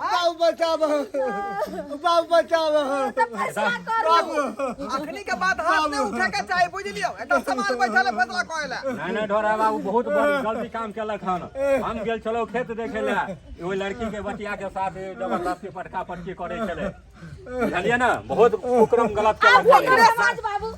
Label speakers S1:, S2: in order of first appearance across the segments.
S1: बाबू
S2: बचाव बाबू बचाव तो फैसला कर बाबू लो अखनी के
S3: बाद हाथ नहीं उठे के चाहे बुझ लियो एकदम संभाल बैठल है फैसला करे ला नहीं नहीं ढोरा बाबू
S4: बहुत बड़ गलती काम केलक हन हम गेल छलौ खेत देखे ले एगो लड़की के बतिया के साथ जबरदस्ती पटका पटकी करे छले बुझलियै ना बहुत कुकरम गलत के अब लक्षण ओकरे है। साथ
S2: बाबू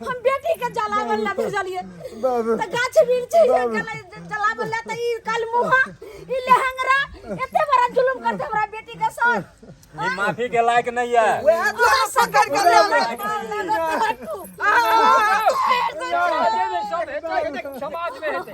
S2: हम बेटी के जलावन ला भेजलिए त गाछ वृक्ष ये गला जलावन ला त ई कल मुहा ई लहंगरा एते बड़ा जुलुम करते हमरा बेटी के साथ ये माफी
S4: के लायक नहीं है वएह दुआरे पकड़
S3: के ले आबै। समाज में
S5: हेतै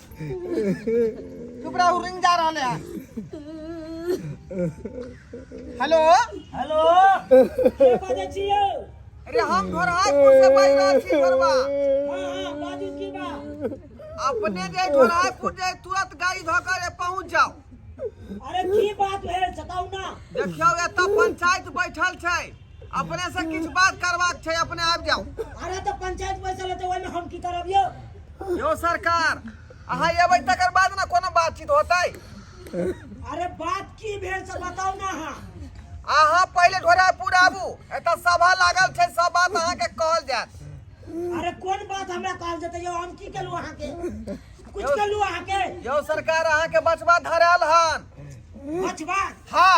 S3: चुप रहू रिंग जा रहल है हेलो हेलो
S6: के बाजै छी यौ अरे हम
S3: घोरहाजपुर से बाजि रहल छी घरवा हाँ हाँ
S6: बाजू की बा अपने
S3: जे घोरहाजपुर जे तुरंत गाड़ी धऽ कऽ जे पहुंच जाओ अरे
S6: की बात भेल बताउ ना देखियौ एतऽ
S3: पंचायत बैठल छै अपने से किछु बात करबाक छै अपने आबि जाउ अरे तऽ पंचायत
S6: बैसल हेतै ओहिमे हम की करब यौ यौ
S3: सरकार अहाँ एबै तकर बाद ने कोनो बातचीत होतै अरे
S6: बात की भेल से बताउ ने अहाँ अहाँ
S3: पहिले ढोरापुर आबू एतऽ सभा लागल छै सब बात अहाँके कहल जायत अरे कोन
S6: बात हमरा कहल जेतै यौ हम की केलहुँ अहाँके कुछ केलहुँ अहाँके यौ सरकार अहाँके
S3: बचबा धरायल हन बचबा
S6: हँ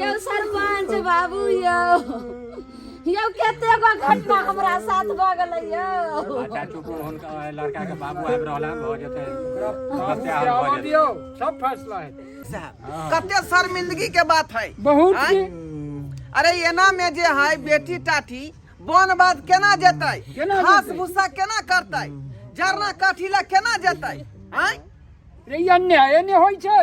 S2: यौ
S3: सरपंच
S2: बाबू
S3: यौ
S2: यौ कते गो घटना हमरा साथ भऽ गेलै यौ अच्छा चुप रहू,
S4: हुनका लड़का के बाबू आबि रहल हन भऽ जेतै समस्या हल भऽ
S5: जेतै दियो सब फैसला है कते
S3: शर्मिंदगी के बात है बहुत आँय? ही अरे एना में जे है बेटी टाटी बन बात केना जेतै केना घास जेतै? भूसा
S5: केना
S3: करतै जरना काठी ला केना जेतै आँय रे ई
S5: अन्याय एने होइ छै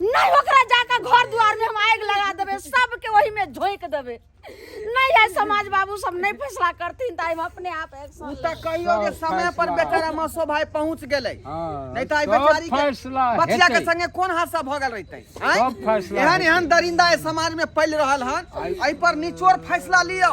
S2: नहीं ओकरा जाकर घर द्वार में हम आग लगा देबे सबके वही में झोंक देबे नहीं है समाज बाबू सब नहीं फैसला करतीन त हम अपने आप उ एक्शन त कहियो
S3: जे सब
S2: समय
S3: पर फैसला। बेचारा मसो भाई पहुंच गेलै हाँ, नहीं त आई सब
S5: बेचारी के
S3: फैसला बचिया के
S5: हेतै। संगे
S3: कोन हादसा भ
S5: गेल
S3: रहितै सब फैसला एहन
S5: हेतै। एहन दरिंदा ए समाज
S3: में फैल रहल हन एहि पर निचोड़ फैसला लियौ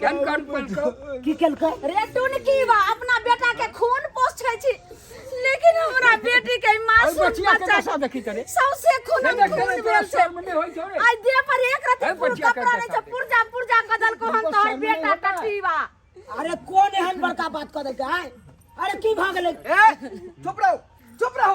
S3: केन
S5: कान पलको की केलकै रे
S6: टून की बा
S2: अपना बेटा के खून पोछै छी लेकिन हमरा बेटी के अरे मासूम बचिया के बच्चा दशा देखी
S5: करे सौसे खून हे देख
S2: खून करे भेल तोरा छै शर्म नहि होइ छौ रे आई
S5: देह पर एक रति
S2: अरे पूरा बचिया के कपड़ा रहै छै दशा
S5: पुर्जा
S2: पुर्जा कदल को हम तुमको तोहर शर्म बेटा नहीं होता? टट्टी बा अरे कोन
S6: एहन बड़का बात कऽ देलकै आय? अरे की भऽ गेलै ए चुप
S3: रहो चुप रहो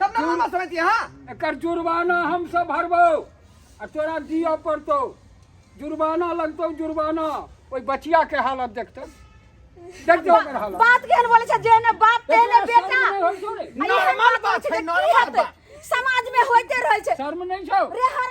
S3: तब ना मामा समझ दिया हाँ एकर जुर्माना
S5: हम सब भरबो आ तोरा दिअ पड़तौ जुर्माना लगतौ जुर्माना ओहि बचिया के हालत देखतौ देखतौ ओकर हालत बात केहन बोले छै जेहने
S2: बाप तेहने एकरा बेटा शर्म नहि होइ छौ रे? अरे Normal
S3: बात बात छै, छै, की normal हेतै? बात। समाज में होइते
S2: रहे छै शर्म नहि छौ रे हर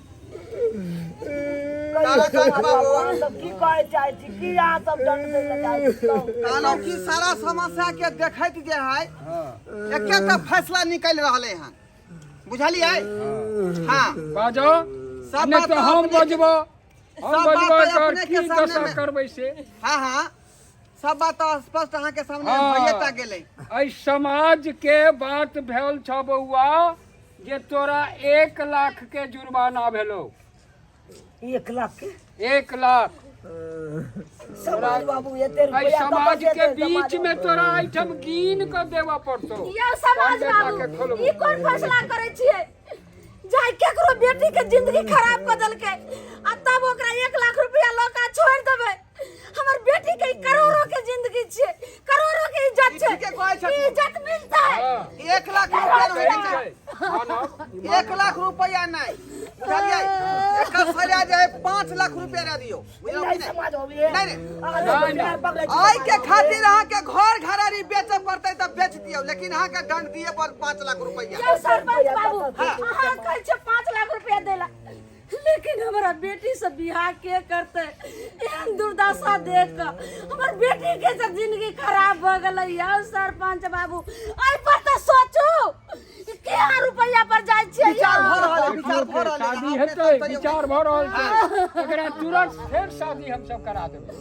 S6: तारा
S3: कान खराब हो अहाँ सब की कहै चाहै
S6: छी की अहाँ सब दंड दै लए चाहै छी कहू। कहलहुँ
S3: कि सारा समस्या के देखैत जे है एके टा फैसला निकल रहले हन बुझलियै हाँ बाजो
S5: सब नहि बात तऽ
S3: हम अपने- बजबो हम
S5: सब बात बजबो
S3: तऽ एकर अपने के की सामने
S5: दशा मे-
S3: करबै से हाँ
S5: हाँ
S3: सब बात तो स्पष्ट अहाँ के सामने हाँ। भइए टा गेलै
S5: एहि
S3: समाज
S5: के बात भेल छ बौआ जे तोरा एक लाख के जुर्माना भेलो
S6: एक लाख के एक लाख समाज बाबू एते एहि रुपया समाज के बीच
S5: में
S6: तोरा
S5: आइटम कीन के देवा पड़तो यौ समाज बेटा के
S2: बाबू खोलबू। ई
S5: कोन फैसला करै
S2: छियै जाय केकरो बेटी के जिंदगी खराब कऽ देलकै आ तब ओकरा एक लाख रुपया लऽ कऽ छोड़ि देबै हमर बेटी के करोड़ों के जिंदगी छे करोड़ों के इज्जत छे ठीके कहै छथु। ई इज्जत
S3: मिलता है हाँ।
S2: एक लाख
S5: रुपया
S3: रहै के चाही हाँ ना,
S5: ईमान
S3: एक
S5: लाख रुपया
S3: नहीं बुझलियै एकर सजा जे है पाँच लाख रुपया दे दियो बुझलौ कि नहीं समाज होबे नहीं,
S6: नहीं। अगर नहीं,
S3: दुनिया नहीं। पकड़े छै,
S5: आय के खातिर
S3: अहाँ के घर घरारी बेचे पड़ते तब बेच दियो लेकिन अहाँ के दंड दिए पर पाँच लाख रुपया यौ सरपंच बाबू
S2: हाँ। अहाँ कहै छे 5 लाख रुपया देला लेकिन हमारा बेटी से बियाह के करते एहन दुर्दशा देख के हमर बेटी के सब जिंदगी खराब भ गेलै यौ सरपंच बाबू एहि पर तऽ सोचू कि क्या रुपैया पर जाइ छियै विचार भऽ यौ? रहल है विचार
S3: भऽ रहल
S2: है
S3: शादी हेतै विचार भऽ
S5: रहल
S3: छै
S5: एकरा तुरंत फेर शादी हमसब करा देबै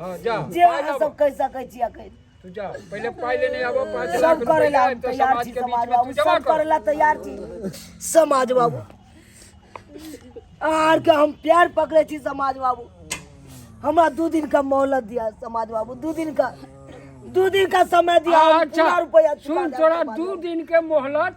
S6: हाँ जा
S5: जे पाय अहाँ लाबो। सब कहि
S6: सकै छी अखन तू जा पहले
S5: पाय लेने आबो पाँच लाख सब रुपया करे ला है, तो तैयार समाज
S6: छी के बीच समाज में तू
S5: बाबू जमा सब करे
S6: कर ला
S5: तैयार छी
S6: समाज बाबू आर के हम प्यार पकड़े छी समाज बाबू हमरा दू दिन का मोहलत दिया समाज बाबू दू दिन का दू दिन का समय दिया हम अच्छा पूरा रुपया चुका सुन
S5: देब तोरा
S6: समाज दू बाबू। दिन के
S5: मोहलत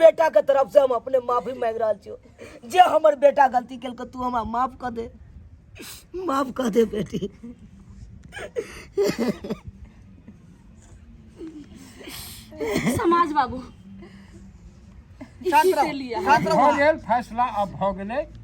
S6: बेटा के तरफ से हम अपने माफी मांग रहा छियो जे हमर बेटा गलती कल के तू हमरा माफ कर दे माफ कर दे बेटी
S2: समाज बाबू शांत
S3: रहो, शांत रहो। भऽ गेल
S2: फैसला
S5: अब भऽ गेलै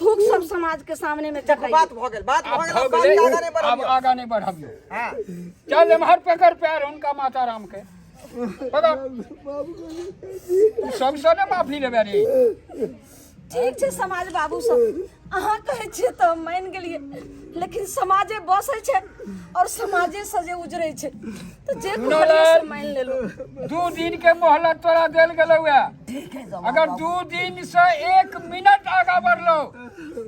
S2: थूक सब समाज के सामने में देखो बात भ गेल बात
S3: भ गेल बात आगा नहीं बढ़ अब आगा
S5: नहीं
S3: बढ़ाबियो
S5: हां
S3: चल एमहर
S5: पकड़ पैर उनका माता राम के पकड़ सब से ने माफी लेबे रे ठीक
S2: छै समाज बाबू सब अहाँ कहै छियै तऽ हम मानि गेलियै लेकिन समाजे बसै छै और समाजे से जे उजरै छै तऽ जे कहलियै से मानि लेलहुँ दू दिन के
S5: मोहलत तोरा देल गेलौ अगर
S6: दू दिन से
S5: एक मिनट आगा बढ़लो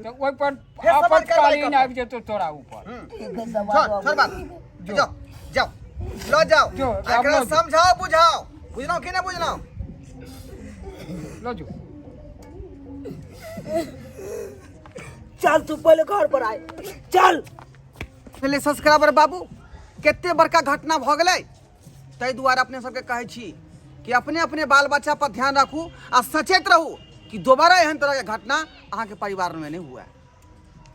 S5: तो ओहि पर फेर सवाल करवाई आपातकालीन करतै। आबि जेतौ तोरा ऊपर छोड़
S6: छोड़ बात
S3: जाओ
S6: जाओ
S3: लो जाओ जो, एकरा आब लो जो। समझाओ बुझाओ बुझलहुँ कि नहि बुझलहुँ
S5: लो जो
S6: चल तू पहले घर पर आए चल पहिले
S3: सब्सक्राइबर बाबू कते बड़का घटना भऽ गेलै ताहि दुआरे अपने सबके कहै छी कि अपने अपने बाल बच्चा पर ध्यान राखू आ सचेत रहू कि दोबारा एहन तरहके घटना अहाँके परिवारमे नहि हुए